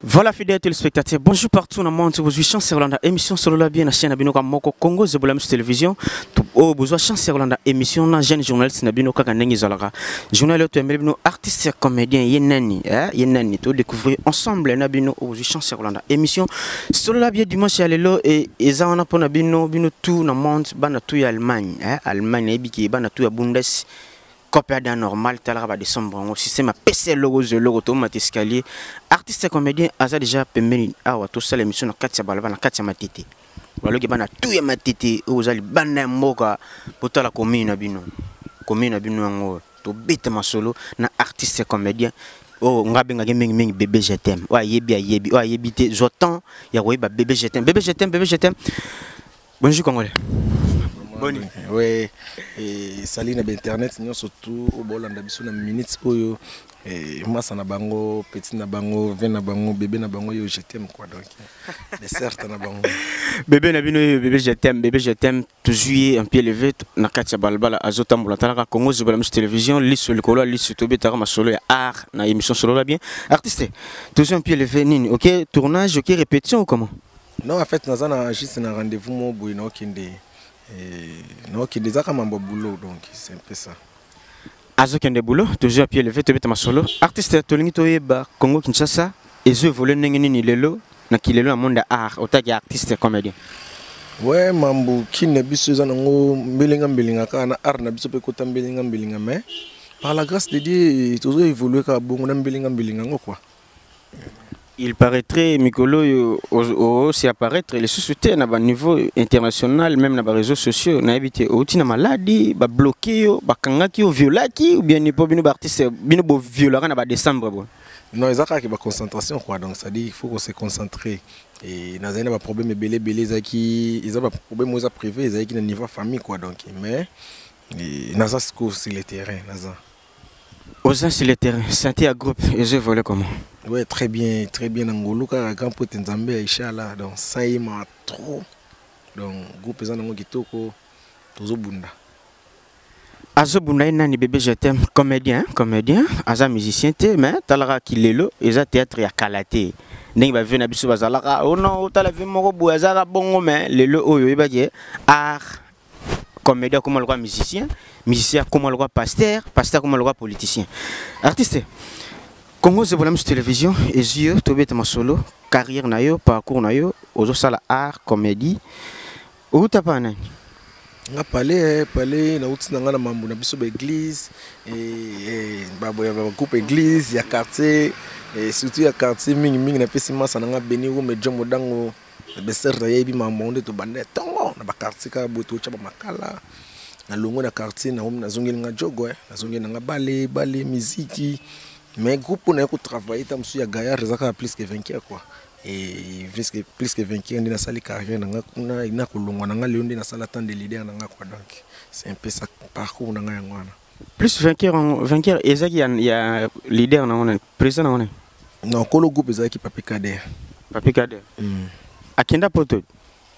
Voilà fidèle téléspectateur, bonjour partout dans le monde, vous avez chance Rolanda émission sur la bien la chaîne Abinoka Moko Congo Zebola Mus Télévision. Oh, vous avez chance Rolanda émission na jeune journaliste Nabinoka Kanengi Zalaga. Journal autre Melbino artiste comédien Yenani, hein, Yenani tout découvrir ensemble Nabino vous avez chance Rolanda émission sur la bien dimanche à l'élo et eza on a pour Nabino Bino tout dans le monde, bana tout ya Allemagne, hein, Allemagne et biki bana tout ya Bundes. cope ada normal talaka ba décembre yango système apesa eloko ozwa eloko tomata escalier artiste comédien aza déjà pembeni awa tosala émission na kati ya balaba na kati ya matete baloki bana tu ya matete oyo oza libanda ya mboka botala commune na bino commune na bino yango tobeta masolo na artiste comédien oyo oh, nga abengaki mingimingi bebe jetem oyo ayebi ayebi oyo ayebi te zwa temps ya koyeba bebe jetem bebe jetem bebe jetem Bonjour Congolais. Boni. Oui. Et salut na internet nous surtout au bolanda biso na minutes oyo et massa na bango petit na bango vin na bango bébé na bango yo je t'aime quoi donc mais certes na bango bébé na bino bébé je t'aime bébé je t'aime toujours un pied levé na katia balbala azotambola talaka Congo zobela musu télévision liso likolo liso tobetaka masolo ya art na émission solo la bien artiste toujours un pied levé nini OK tournage OK répétition ou comment Non, en fait, naza na juste na rendez-vous mo boye na okende. Eh, na okende ezaka mambo boulot donc c'est un peu ça. azokende boulot toujours pied levé tobeta masolo artiste tolingi toyeba congo kinshasa ezo évolue ndenge nini lelo na kilelo na monde ya art otaki artiste comédien we mambo kini na biso eza nango mbelenga mbelenga kaka na art na biso mpe ekota mbelenga mbelenga mais par la grâce de dieu tozo évolue kaka bongo na mbelenga mbelenga yango kua il paraîtrait mikolo oyo osi apparaître lisusu te na baniveau international même na bareseau sociaux nayebi te outi na maladi babloke yo bakangaki yo violaki ou bien mpo bino baartiste bino boviolaka na badécembre bo non eza kaka baconcentration quoi donc cestadire il faut kose concentrer e nazali na baproblème ebele ebele ezalaki eza baproblème oyo eza privé ezalaki na niveau ya famille quoi donc mais naza sikoyo sur le terrain naza oza sur le terrain santé ya groupe ezo évolue comment ouais très bien très bien na ngolu kaka grand pote nzambe ya ishala donc ça ye ma trop donc groupe eza nango kitoko tozobunda azobunda ye nani bebe je t'aime comédien comédien aza musicien te mais talaka kilelo eza théâtre ya kala te ndenge bavie na biso bazalaka ono oh otala vie moko boye azalaka bongo mais lelo oyo oyebaki art comedien akoma lokola musicien musicien akoma lokola pasteur pasteur akoma lokola politicien artiste congo zebola misu télévision ezwi yo tobeta masolo carrière na yo parcours na yo ozosala art comédie outa pa nani nga pale eh, pale nauti na ngai na mambo na biso baeglise eh, eh, bagroupe église ya quartier surtout ya quartier mingimingi napesi masa na ngai beni rume jo modango Besser na yebi makambo yango nde tobanda ntongo na bakartier kaka boye totya bamakala na longwe na quartier na omi nazongeli nga jogo eh. nazongeli na nga bale bale miziki mais groupe oyo naye kotravaille ta mosusu ya gaillard eza kaka plus que vainqueur quoi et plus que, plus que vainqueur nde nasali carrière na nga kuna nakolongwa na nga lelo nde nasala temps de leader na nga quoi donc c'est un peu ça parcours na nga yango wana plus vainqueur yango vainqueur ezalaki ya, ya leader na ngone président na ngone non kolo groupe ezalaki papi kader papi kader mm. akenda poto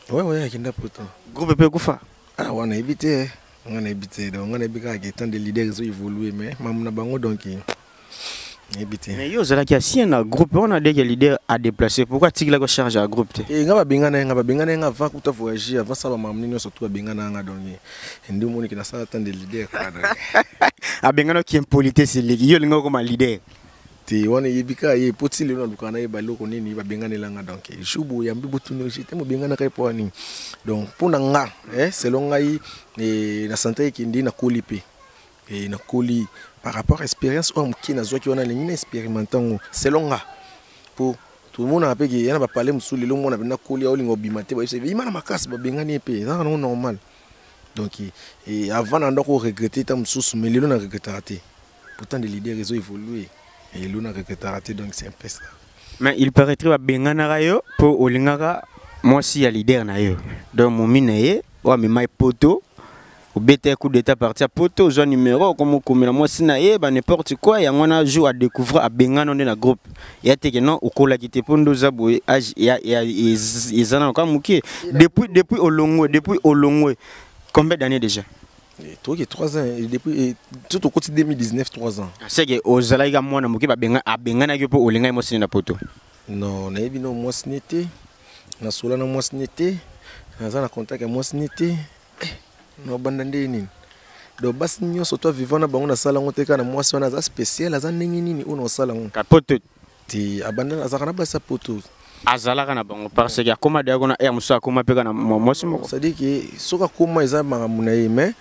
ouais ouais akenda poto groupe pe kufa ah wana yebi te nga nayebi te donc nga nayebi kaka ke temps de leader ezo évoluer mais mamu na bango donc mais yo ozalaki ancien na groupe wana deke leader a déplacé pourquoi atikilaki charge ya groupe te eh, nga babengana ye nga babengana ye nga avant kuta voyage avant sala mamni nyonso tu babengana yanga donc eh, nde omoniki nasala tan de leader abengana ki impolitesse eleki yo olinga okoma leader te wana eyebi kaka ye mpo ti lelo nalukaka na ye baloko nini babenganela nga donc jour boyambi botuni jete mobenganaka ye mpo ya nini donc mpo na nga eh, selon ngai eh, na sante ekende nakoli mpe e nakoli par rapport expérience oyo moke nazwaki wana elingi na expérimente yango selon nga mpo tomonaka mpe ke ya na bapale mosusu lelo mwana mpenza koli aolinga obima te bayebisa bima na makasi babengani ye mpe ezaka nango normal donc e, avant na ndako oregrete ta mosusu mais lelo na regretaka te pourtant de leader ezo évolue lelo na regretaka te donc c'est un peu ça mais il paraîtrait babenganaka yo mpo olingaka mwasi ya leader na yo donc momi na ye oyo amema ye poto obeta ye coup d'état parti ya poto ozwa numero okomokomela mwasi na ye ba n'importe quoi yango wana jour adécouvre abengana nde na groupe ya teke non okolaki te mpo nde oza boye age eza nano kaka moke depuis depuis olongwe depuis olongwe combien d'année déjà eh, toki 3 ans eh, depuis eh, tout tokoti 2019 3 ans ah, seke ozalaki ka mwana moke abenganaki yo mpo olingaki mwasi ne na poto non nayebi no mwasi ne te nasola na mwasi ne te naza na contact ya mwasi ne te eh, nobanda nde nini donc basi nyonso to vivant na bango nasala yango te kaka na mwasi wana aza spécial aza ndenge nini oyo naosala yango kapoto te abanda azalaka na basi ya poto azalaka na bango parce que akoma deya kuna ere mosusu akoma mpe kaka na mwasi moko cestadire ke soki akoma eza makambo na ye mais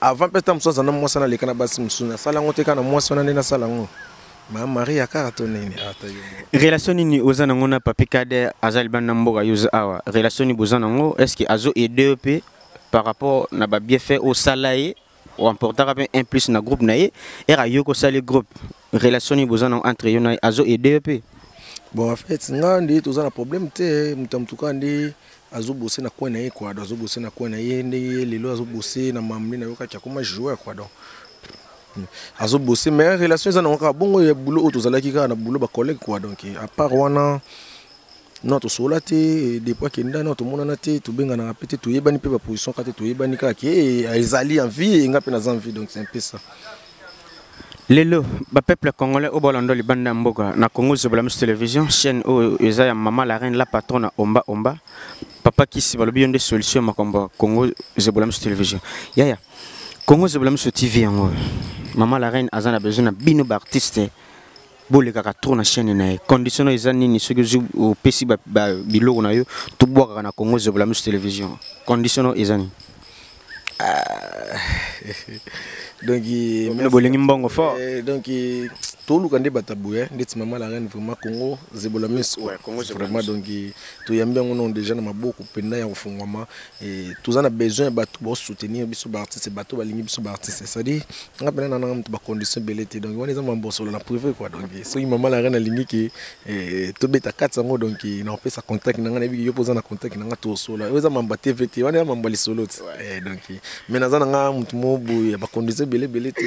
avant mpe ntango mosusu azala na mwasi wana aleka na basi mosusu nasala yango te kaka na mwasi wana nde nasala yango ma maria kaka to nini ah, relation nini oza nango na papi kade aza libanda na mboka yo awa relation nini boza nango est ce que azo aide yo mpe par rapport na babiefait osala ye oemportaka mpe un plus na groupe na ye ere ayoki osali groupe relation nini boza nango entre yo na ye azo aide yo mpe bon en fait nga nde toza na problème te moto ya motuka nde azobose na coin na ye quoi donc azobose na coin na ye ndenge ye lelo azobose na mamle na yokaki akoma joueur quoi donc hmm. azobose mais relation eza nango kaka bongo ya boulot oyo tozalaki kaka na boulot bacollègue quoi donc à part wana non tosola te depuis akenda non tomonana te tobenganaka mpe te toyebani mpe baposition kaka te toyebani kaka ke ezali en vie enga mpe naza en vie donc c'est un peu ça lelo bapeuple congolais oyo balanda libanda ya mboka na congo zobola misu télévision chaîne oyo eza ya mama la reine la patrona omba omba papa kisi balobi yo nde solution ya makambo ya congo zobola misu télévision yaya congo zobola misu tv yango mama la reine aza na besoin na bino baartiste bolekaka trop na chaîne na ye condition na eza nini soki ozwi opesi biloko na yo tobwakaka na congo ezobela misu télévision condition na eza nini ah, donc bino bolingi mbongo fort eh, donc toluka nde bato ya boye ndeti mama la reine vraiment congo zebola miso vraiment donc toyambi yango nano déjà na maboko mpenda ya kofungwama Eh, toza na besoin ya bato bosoutenir biso baartiste bato balingi biso baartiste cestadire nga mpena nana moto bacondition ebele te donc wana eza mambosolo na privé kua donc eh, soki mama lara nalingi ke eh, tobeta kati yango donc naopesa contact na nga nayebiki yo mpo oza na contact na nga tosola oyo eza mamba tv te wana eza mamba lisolo ti donc me naza na nga moto mo boye bacondition ebele ebele te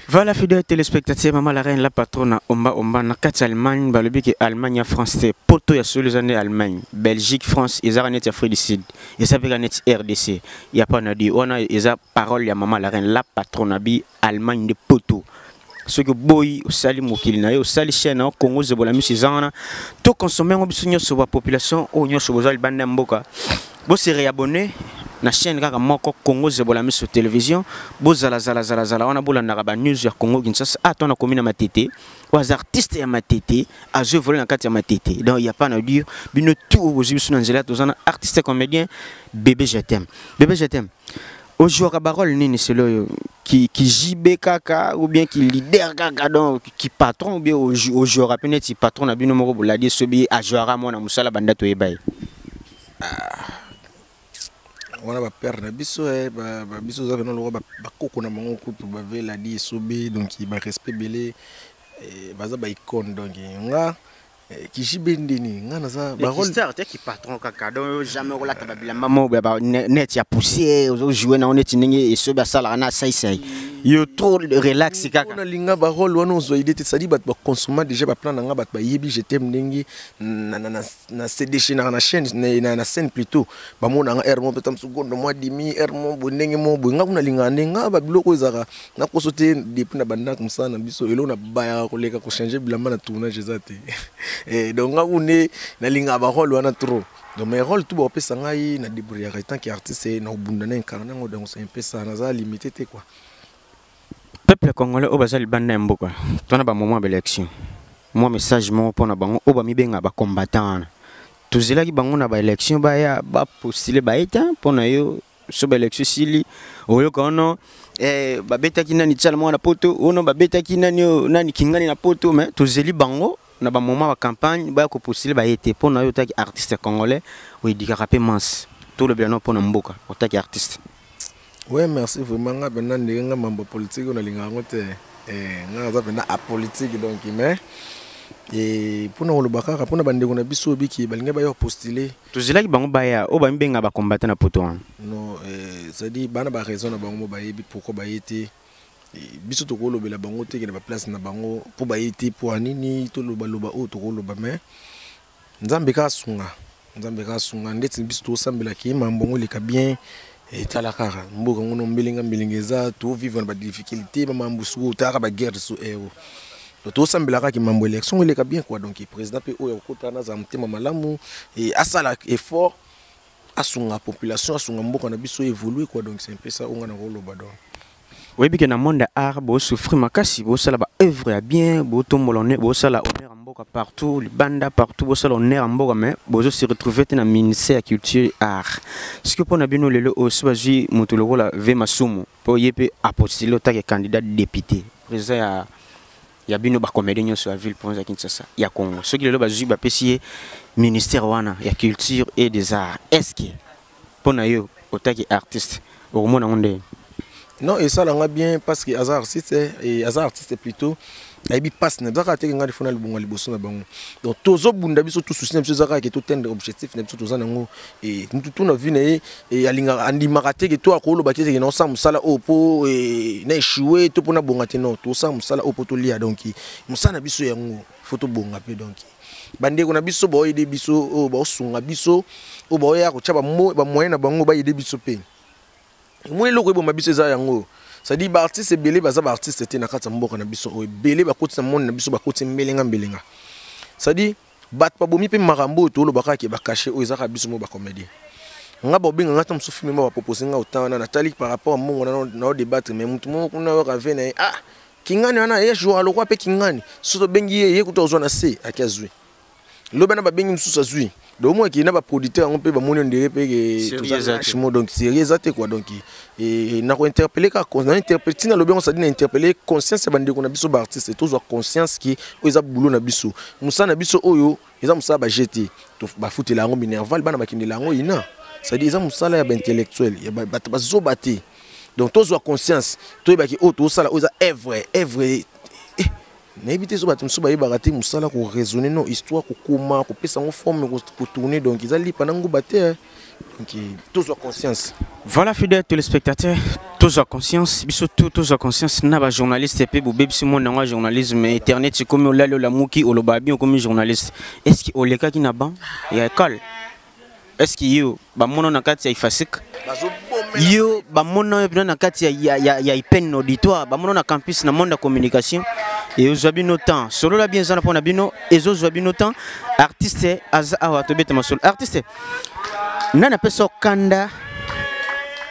Voilà fidèle téléspectateur maman la reine la patrona omba omba na kati Allemagne balobi ke Allemagne ya France te poto ya solo eza nde Allemagne Belgique France ezaka neti Afrique du Sud eza pe ka neti RDC ya pa na di wana eza parole ya maman la reine la patrona bi Allemagne nde poto soki oboyi osali mokili na yo osali chaîne na Congo zebola miso eza wana to consommer ngo biso nyonso ba population oyo nyonso boza libanda ya mboka Bo se réabonner na chaîne kaka moko Congo Zebola Miso Télévision. Bo zala zala zala zala wana bolandaka ba news ya Congo Kinshasa. Ah, toi na komi na matete. Oza artiste ya matete, azo voler na kati ya matete. Donc il y a pas na dire bino tout bozi biso na nzela tozana artiste comédien bébé je t'aime. Bébé je t'aime. Ojouaka ba rôle nini selo yo qui qui JB kaka ou bien qui leader kaka donc qui patron ou bien ojouaka pe neti patron na bino moko boladi sobi ajouaka mwana musala banda toyebaye. wana ba père na biso eh, ba, ba biso oza pena lokola bakoko na bango kutu bavela di esobe donc ba respect ebele eh, baza ba icone donc eh, nga eh, kijibe nde nini nga naza barolestar te ki patron kaka donc jamais okolata babilamba moko ya baneti ya poussière ozojoue nango neti ndenge esobe asalaka na saisai yo trop relax kaka nalinga barole wana ozwa ide te sadi bato bakonsoma déjà baplan na nga bato bayebi je teme ndenge na se déchaînaka na chaîne na, na scène plutôt bamona nga ermo peut-être mosusu gondo mwa dimi ermo boye ndenge moko boye nga kuna lingaka nde nga babiloko oyo ezalaka nakoso te depuis na bandako mosala na biso eloko na bayaka koleka kochange bilamba na tournage eza te eh, donc nga kune nalingaka barole wana trop donc mes rôles tout bakopesa ngai na débrouillaka etant que artiste na kobunda na incarne yango donc ça impesa naza limité te quoi peuple congolais oyo baza libanda ya mboka tona ba moment ya baélection mwa message moko mpo na bango oyo bamibenga bacombattant wana tozelaki bango na baélection baya bapostile baye te mpo na yo so baélection esili oyoka ono eh, babetaki nani tshala moko na poto ono babetaki nani oyo nani kingani na poto mais tozeli bango na bamoment ba campagne baya kopostile baye te mpo na yo otaki artiste congolais oyedikaka mpe manse tolobela no mpo na mboka otaki artiste Oui, merci vraiment. Nga penda ndenge nga mambo politique na linga ngo te. Eh, nga za penda a politique donc mais et pona koloba kaka pona bandeko na biso biki balinga ba yo postuler. Tozilaki bango baya o ba mibenga ba combattant na poto wana. Non, eh, ça dit bana ba raison na bango ba yebi pourquoi ba yete biso tokolobela bango te ke na ba place na bango po ba yete po anini toloba loba oyo tokoloba mais nzambe kaka sunga nzambe kaka sunga ndeti biso tosambela ke mambo yango eleka bien etala kaka mboka ngo na mbelenga mbelenga eza tovivre na badifficulté bamambo suku otalaka baguerre so ero eh, oh. tosambela kaka mambo élection ngo eleka bien quoi donc président mpe oyo akokotaka nazala motema malamu asala effort asunga population asunga mboka na biso évolue quoi donc c'est un peu ça onga na koloba donc oyebi ke na monde ya art bosouffrir makasi bosala ba œuvre ya bien botombola one bosala honneur ya mboka partout libanda partout bosala honneur ya mboka mais bozo se retrouver te na ministère ya culture art sikoyo mpo na bino lelo oyo so bazwi moto lokola ve masumu mpo ye mpe apostile otake candidat député président ya ya bino bacomédie nyonso ya ville province ya kinshasa ya congo soki lelo bazwi bapesi ye ministère wana ya culture et des arts est ce que mpo na yo otaki artiste okomona yango ndenge non esala nga bien parce que aza artiste eh, et aza artiste plutôt ayebi mpasi na bizaka ateke ngai lifona libonga liboso na bango donc tozobunda biso tout souci na biso ezaka ke totendre objectif na biso toza nango e, mutu tu na vie na ye e, alingaka andimaka teke to akoloba te teke naosala mosala oyo mpo e, na echue to mpo nabonga te non tosala mosala oyo mpo tolia donc mosala na biso yango fo tobonga mpe donc bandeko na biso baoyede biso oyo baosunga biso oyo baoya kotya bamoyen na bango bayede biso mpe moi eloko eboma biso eza yango oyo cestadire baartiste ebele baza baartiste te na kati ya mboka na biso oyo ebele bakoti na monde na biso bakoti mbelenga mbelenga cestadire bato babomi mpe makambo oyo toloba kaka ke bakashe oyo ezaka biso mo bacomédien nga baobenga nga ta mosusu filme ma bapropose nga otan wana natali par rapport ya mbongo na odebattre mai motu moko kuna yoka ve na ye ah Kingani wana ye joa lokwa mpe kingani soki tobengi ye ye kutu azwa na se ake azwi lobi wana babengi mosusu azwi donc omoi ke na baproducteur yango mpe bamoni ondire mpe kemo donc serie eza te kua donc na kointerpele kaka ntina alobi yango sadi na interpele conscience ya bandeko na biso baartiste tozwa conscience ke oyo eza bulo na biso mosala na biso oyo eza mosala ba jeu te bafutela yango minerval bana bakendela yango ina cestadire eza mosala ya baintellectuel ya bato bazoba te donc tozwa conscience toyebaki oyo oh, tozosala oyo eza evre evre eh, nayebi te so bato mosusu bayebaka te mosala koraisonne no histoire kokoma kopesa yango forme kotourne donc eza lipa na nguba te eh. donc eh, tozwa conscience voilà fidèle téléspectateur tozwa conscience biso tu tozwa conscience na bajournaliste mpe bobebisi monde yango ya journalisme internet ekomi olali olamuki olobaka bien okomi journaliste est ce que olekaki na ban ya ekole est ce que yo bamono na kati ya ifasik yo bamona yo mpena na kati ya, ya, ya, ya ipene na auditoire bamona na campus na monde ya communication ezwa bino temps solola bien eza na mpo na bino ezozwa bino temps artiste aza awa tobeta masolo artiste nani apesa okanda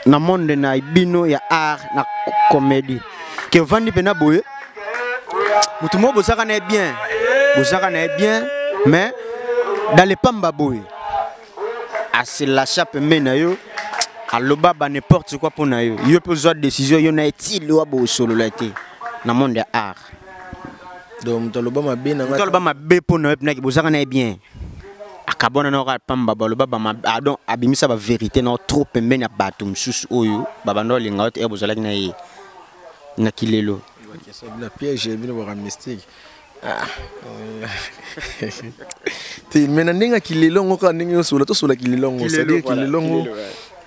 na monde na bino ya art na comédie ke ovandi mpena boye motu moko bozaka na ye bien bozaka na ye bien mais dans le pamba boye asilacha pembeni na yo aloba ba n'importe quoi mpo na yo yo mpe ozwa décision yo na ye ti liwa bosolola te na monde ya art donc moto aloba mabe na ngai aloba mabe mpo na yo mpe naki bozaka na ye bien akabwana na kaka pamba baloba badon ah, abimisa baverité na trop pembeni ya bato mosusu oyo babanda olinga yo te ere bozalaki na ye na kilelo na piège bino baka mystique ah. te me na ndenge ya kilelo yango kaka ndenge osola tosola kilelo yango cestadire kilelo yango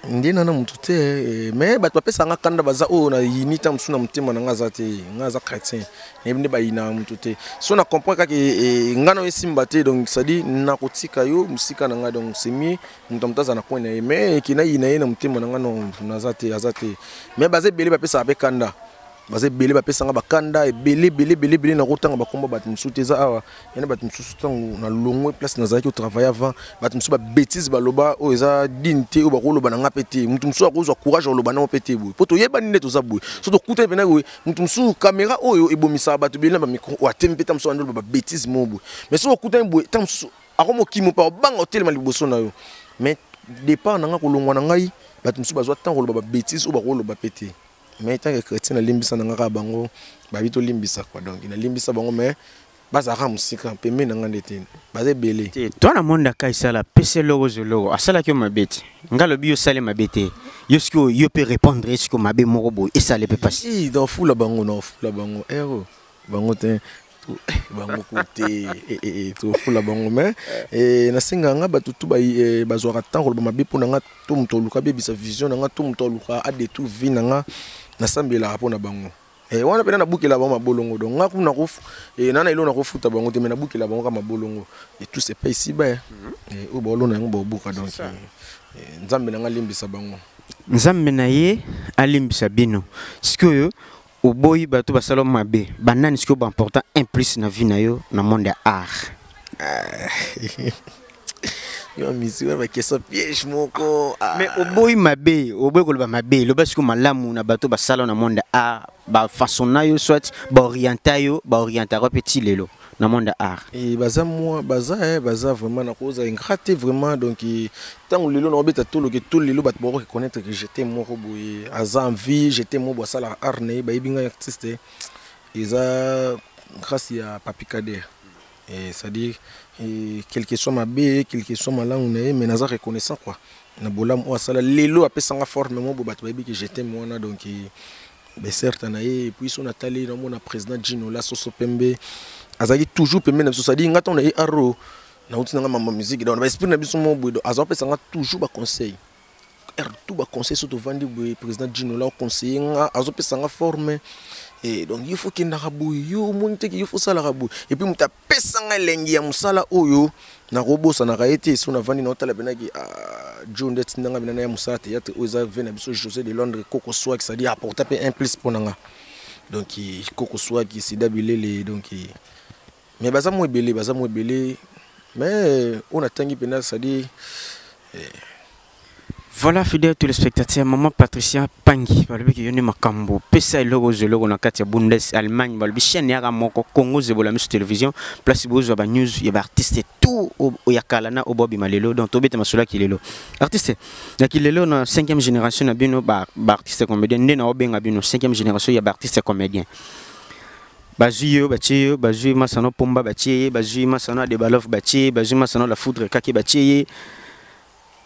nde nana motu te eh, me bato bapesaka nga kanda baza oyo na yini ntango mosusu na motema na nga aza te nga aza chrétien nayebi nde bayinaka moto te so na comprendre kaka eh, eh, ngai nayo esimba te donc cestadi nakotika yo mosika na ngai donc semie moto ya moto aza na coin na ye mais eke nayina ye na motema na ngai no naza te aza te mais baza ebele bapesaka mpe kanda baza ebele bapesanga bakanda ebele ebele ebele ebele nakotanga bakomba bato mosusu te eza awa ya na bato mosusu ntango nalongwe place nazalaki otravaille avant bato mosusu babétise baloba oyo oh, eza dine te oyo oh, bakoloba na ngai mpe te moto mosusu akozwa courage oloba nango mpe te boye mpo toyebani nde toza boye so tokutani mpena boye moto mosusu kamera oyo ebomisaka bato bele na bamikro oyo oh, atemi mpe ntango mosusu andoloba babétise moko boye mais soki okutani boye ntango mosusu akomokimo mpe akobanga otelema liboso na yo mais départ na ngai kolongwa na ngai bato mosusu bazwa ntango koloba babétise oyo bakoloba mpe te mais ntango ya chrétien nalimbisa na ngai kaka bango babi tolimbisa kwa donc nalimbisa bango mais bazalaka mosika pembeni na ngai nde te baza ebele te to na monde aka esala pese loko zoloko asalaki yo mabe te ngai alobi yo osali mabe te yo soki yo mpe répondre ye soki mabe moko boye esale mpe mpasi nafula bango nafula bango ero eh, bango te eh, bango ku te eh, tofula bango mai nasenga ngai bato tu bazwaka ntango koloba mabe mpo na ngai to moto oluka abebisa vision na ngai to moto oluka adetour vie na ngai nasambelaka mpo na bango Eh, wana pena nabukela bango mabolongo donc nga kuna ko eh, nana elo nakofuta bango te me nabukela bango ka mabolongo et tout se paye si ba eh, mhm. eh oyo baolona yango baobuka donc eh, eh, nzambe na nga alimbisa bango nzambe na ye alimbisa bino sikoyo oboyi bato basala mabe banani sikoyo baimportant un plus na vie na yo na monde ya art ah, mais oboyi mabe oboyi koloba mabe loba siko malamu na bato basala na monde art bafaçon na yo soit baorienta yo baorientaka mpe ti lelo na monde art e baza mwa baza e baza vraiment nakoza ingrat te vraiment donc ntango lelo naobeta toloke to lelo bato bakoki connaître que jete moko boye aza en vie jete moko boye asalaka art na ye bayebi ngai artiste eza grâce ya papikadere Eh, c'est-à-dire eh, quel que soit mabe quel que soit malamu na ye mais naza reconnaissant quoi na bolamu oyo asala lelo apesanga forme moko bato bayebi ke jetem wana donc eh, beserta na ye epuis so natali namona président jinola soso pembe azalaki toujours pembe na biso sadi nga ntango na ye aro nauti na nga mama musique donc na baesprit na biso moko boye donc azapesanga toujours baconseil heure tout ba conseil so tovandi boye président Gino la conseiller nga azopesa nga forme et eh, donc il faut kendaka boye yo omoni te il faut osalaka boye et puis moto apesa nga elengi ya mosala oyo nakobosanaka ye te so navandi naotala penaki ah, jo nde atinda nga benana ya mosala théâtre oyo eza ve na biso josé de londres koko swaki cestadi apporta mpe un plus mpo na nga donc koko swaki sida bilele donc mais baza mwa ebele baza mwa ebele mais oyo natangi mpenza cestadire eh. Voilà, fidèle téléspectateur, maman Patricia Pangi, balobi ki yoni makambo, pesa eloko zeloko na kati ya Bundes Allemagne, balobi chaîne yaka moko Congo zebola misu télévision, place bozo ba news ya ba artistes tout ya kala na obobi malelo, donc tobeta masula ki lelo. Artiste, na ki lelo na 5e génération na bino ba, ba artistes comédiens, nde na obenga bino 5e génération ya ba artistes comédiens. bazwi yo batye yo bazwi masano pomba batye ye bazwi masano adebalof batye ye bazwi masano la foudre kake batye ye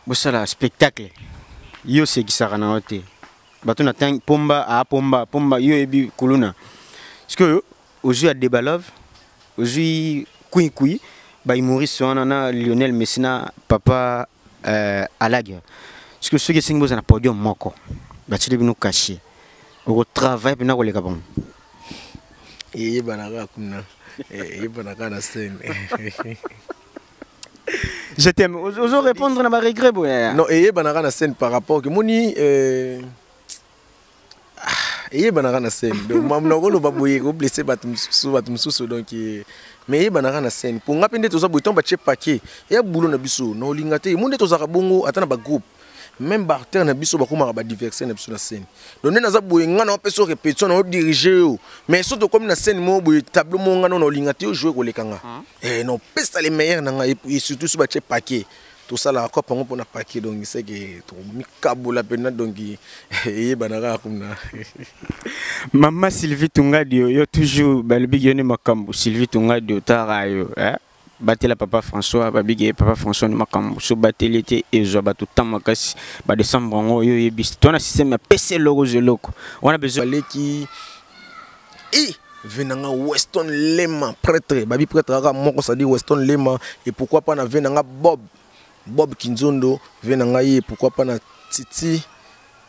bosala spectacle yo osekisaka na yo te bato na ntangi pomba apomba pomba yo oyebi kuluna sikoyo ozwi adebalove ozwi kuikui baimoriste wana na lionel messi na papa uh, eh, alager sikoyo soki esengi bozala na podium moko batyeli bino kashe okotravaille mpena koleka bango eyebana kaka kuna eyebana kaka na scène je t'aime ozo répondre na ba regret boya non eyebana kaka na scène par rapport que moni euh, ah, eyebana kaka na scène donc mamu na koloba boye ko blesser bato mosusu bato mosusu donc euh, mais eyebana kaka na scène mpo nga mpe nde toza boye ntango batie paquet eya bulo na biso na olinga te mo nde tozalaka bongo ata na bagroupe même barter na biso bakomaka badiverse na biso na scène donc nde naza boye ngai nao mpeso répétition nao dirige yo mais so tokomi na scène moko boye tableau moko ngai nona olinga te yo joue koleka nga ah. eh, naopesa le meilleur na ngai et surtout so batie paquet tosalaka kope yango mpona paquet donc seke tokomikabola mpenza donc eyebana kaka kuna mama sylvie tungadio yo toujours balobiki yo nde makambo sylvie tungadio tara yo eh? batela papa françois babige papa françois ni makambo so bateli ete ezwa bato ntan makasi badesembre yango oyo oyebisi to na systeme ya pese eloko zwa eloko wana bezaleki i ve na nga weston lema pretre babi pretre kaka moko sadi weston lema e pourkui pa na ve na nga bob bob kinzondo ve na ngai e pourkui pa na titi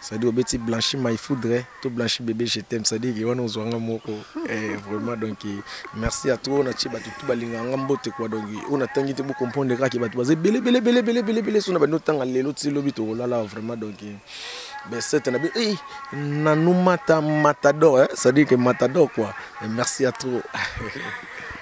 cest obeti blanchi my foudre to blanchi bebe je t'aime cest dire wana ozwa nga moko eh, vraiment donc merci ya trop na tie bato tu balingaka nga mbote kua donc oyo natangi te bocomprendre kaka bato baza ebele bele bele bele bele bele so na bandi otanga lelo ti lobi tokolala vraiment donc besete na bino ei nanu mata matador eh? cest dire que matador kua eh, merci ya trop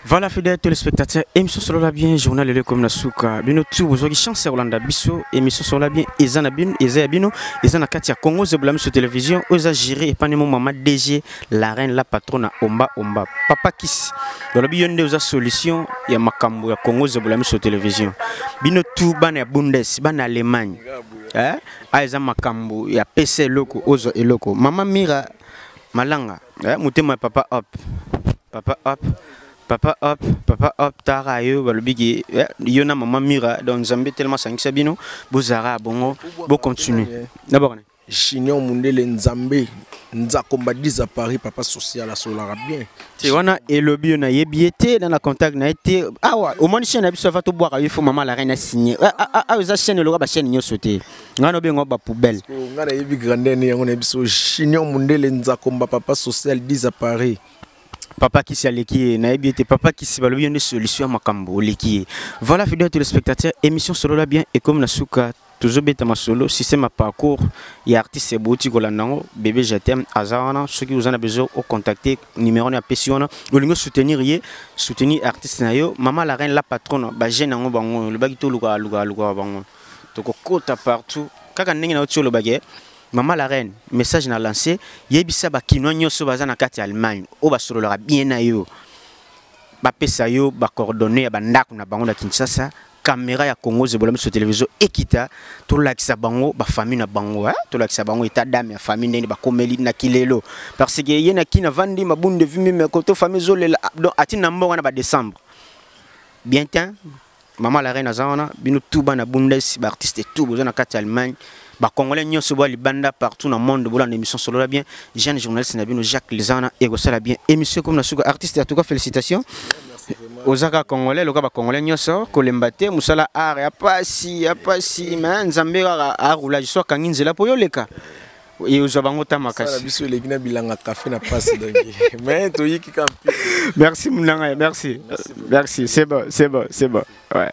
Voilà fidèle téléspectateur, émission sur la bien, journal le comme la souka. Bino tout vous avez chance ya kolanda biso, émission sur la bien, eza na bino, eza ya bino, eza na kati ya Congo Zeblam sur télévision, oza géré et pas mon maman DG, la reine, la patronne Omba Omba. Papa Kiss. Voilà bino nde oza solution ya makambo ya Congo Zeblam sur télévision. Bino tout bana ya Bundes, bana Allemagne. Hein? Ah eza makambo ya PC loko, ozo eloko. Maman Mira Malanga, eh, motema ya papa hop. Papa hop. Papa hop, papa hop, tara yo balobi ki eh, yo na maman Mira donc Nzambe tellement sangisa bino, bozara bongo, bo continuer. Eh. D'abord Junior Mundele Nzambe Nzakomba Diza Paris papa social asolaka bien. Te wana elobi yo na yebi ye te na na contact na ye te awa omoni chaîne na biso afa tobwaka yo fo mama la reine a signé awa ah, ah, ah, eza chaîne eloka ba chaîne nyonso te nga no bengo ba poubelle ko nga na yebi grandeur ni yango na biso junior mundele nzakomba papa social 10 à Paris papa kisi aleki ye nayebi ete papa kisi balobi yo nde solution ya makambo oleki ye voilà fidèle téléspectateur émission solola bien ekomi na suka tozobeta masolo système ya parcours ya artiste ebouti kolanda yango bebe jetem aza wana soki oza na besoin ocontacte numéro na apesi wana olingi osoutenir ye soutenir artiste na yo mama la reine la patronne bajeune yango bango olobaki toluka luka luka bango tokokota partout kaka ndenge nauti oloba ke mama la reine message na lance yebisa bakinois nyonso baza na kati ya allemagne oyo basololaka bien na yo bapesa yo bacoordonne ya bandako na bango na kinshasa kamera ya congo zebola miso televizio ekita tolakisa bango bafamille na bango eh? tolakisa bango eta dame ya famille ndenge bakomeli na kilelo parce que ye na kina vandi mabunde vimimeko to famille ezolela ah, donc ati na mboka na badecembre bien te Maman la reine aza wana bino tout bana Bundes ba artistes tout boza na kati Allemagne ba congolais nyonso ba libanda partout na monde bolanda émission solola bien jeune journaliste na bino Jacques Lizana ekosala bien émission comme na suka artiste en tout cas félicitations ozaka congolais loka ba congolais nyonso kolemba te musala art ya pasi ya pasi mais nzambe kaka a roulage soit kangi nzela po yoleka Et aux Abango Tamakasi. Ça, biso eleki na bilanga café na passe donc. Mais to yiki kampi. Merci Munanga, merci. Merci, c'est bon, c'est bon, c'est bon. Ouais.